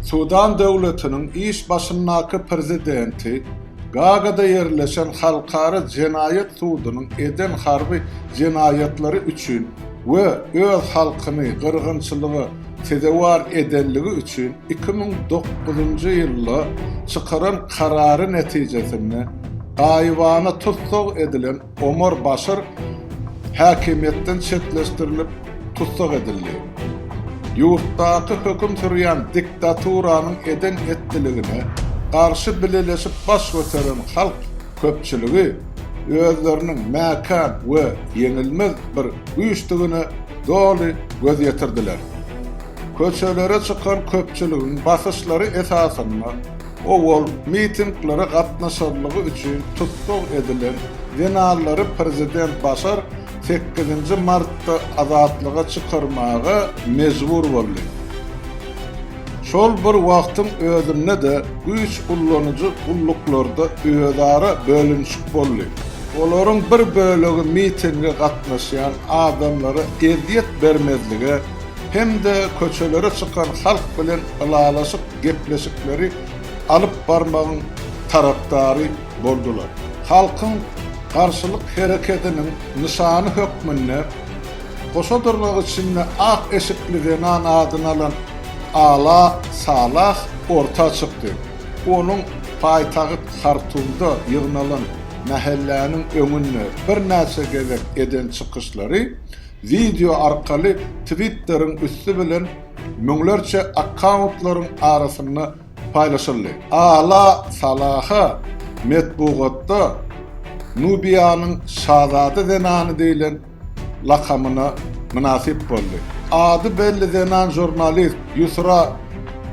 Sudan döwletiniň iş başyndaky prezidenti Gagada ýerleşen Halkara jenaýat sudunyň eden harby jenaýatlary üçin we öz halkyny gyrgynçylyga sezewar edenligi üçin iki müň dokuzynjy ýylda çykaran karary netijesinde gaýybana tussag edilen Omar Başir häkimiýetden çetleşdirilip, tussag edildi. Ýurtdaky höküm sürýän diktaturanyň eden-etdiligine garşy bileleşip baş göteren halk köpçüligi özleriniň mäkäm we ýeňilmez bir güýçdigine doly göz ýetirdiler. Köçelere çykan köpçüligiň basyşlary esasynda Owal mitinglere gatnaşanlygy üçin tussag edilen zenanlary prezident Başar sekizinji martda azatlyga çykarmaga mejbur boldy. Şol bir wagtyň özünde-de güýç ullanyjy gulluklarda özara bölünişik boldy. Olaryň bir bölegi mitinge gatnaşýan adamlara ezýet bermezlige hem-de köçelere çykan halk bilen ylalaşyk gepleşikleri alyp barmagyň tarapdary boldular. Halkyň garşylyk hereketiniň nyşany hökmünde goşa durnak içinde ak eşikli zenan adyny alan Ala Salah orta çykdy. Onuň paýtagyt Hartumda ýygnalan mähelläniň öňünde birnäçe gezek eden çykyşlary wideo arkaly Twitteriň üsti bilen müňlerçe akkauntlaryň arasynda paýlaşyldy. Ala Salaha metbugatda Nubiýanyň şazada zenany diýlen lakamyna mynasyp boldy. Ady belli zenan žurnalist Ýusra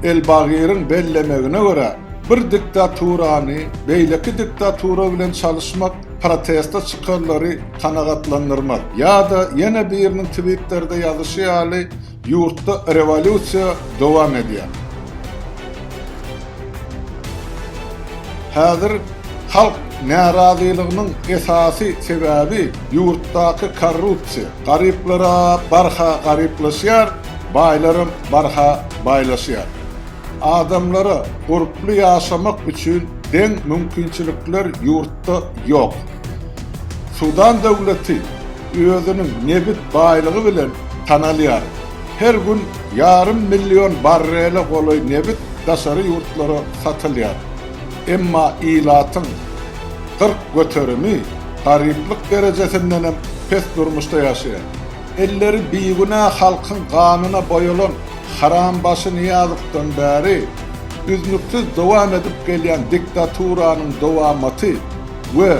Elbagiriň bellemegine görä, bir diktaturany beýleki diktatura bilen çalyşmak proteste çykanlary kanagatlandyrmaz. Ýa-da ýene biriniň twitterde ýazyşy ýaly, Ýurtda rewolýusiýa dowam edýär. Häzir halk närazylygynyň esasy sebäbi ýurtdaky korrupsiýa. Garyplara barha garyplaşýar, baýlaram barha baýlaşýar. Adamlara gurply ýaşamak üçin deň mümkinçilikler ýurtda ýok. Sudan döwleti özüniň nebit baýlygy bilen tanalýar. Her gün ýarym million barrele golaý nebit daşary ýurtlara satylýar. Emma ilatyň kyrk göterimi garyplyk derejesindenem pes durmuşda ýaşaýar. Elleri bigünä halkyň ganyna boýalan Harambaşy Nyýazowdan bäri üznüksiz dowam edip gelýän diktaturanyň dowamaty we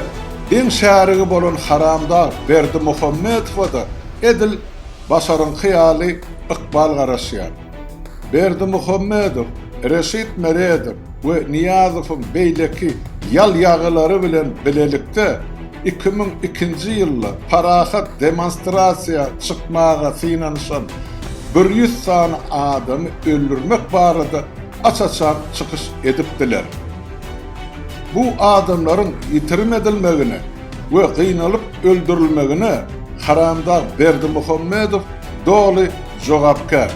Diň şärigi bolan haramdag Berdimuhamedowa-da edil Başaryňky ýaly ykbal garaşýar. Berdimuhamedow Reşit Meredow we Nyýazowyň beýleki ýal-ýagylary bilen bilelikde iki müň ikinji ýylda parahat demonstrasiýa çykmaga synanyşan bir ýüz sany adamy öldürmek barada aç-açan çykyş edipdiler. Bu adamlaryň ýitirim edilmegine we gynalyp öldürilmegine haramdag Berdimuhamedow doly jogapkär.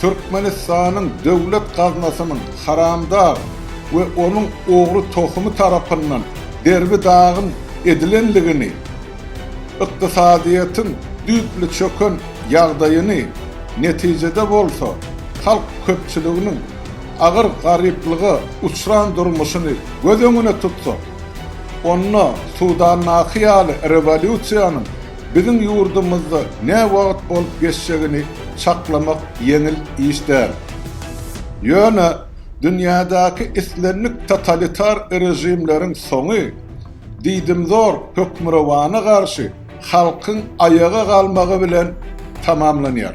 Türkmenistanyň döwlet gaznasynyň haramdag we onuň ogry tohumy tarapyndan derbi-dagyn edilendigini, ykdysadyýetiň düýpli çöken ýagdaýyny, netijede bolsa halk köpçüliginiň agyr garyplyga uçran durmuşyny göz öňüne tutsak, onda Sudandaky ýaly rewolýusiýanyň biziň ýurdumyzda näwagt bolup geçjegini çaklamak ýeňil iş däl. Ýöne dünýädäki islendik totalitar režimleriň soňy diýdimzor hökmürowana garşy halkyň aýaga galmagy bilen tamamlanýar.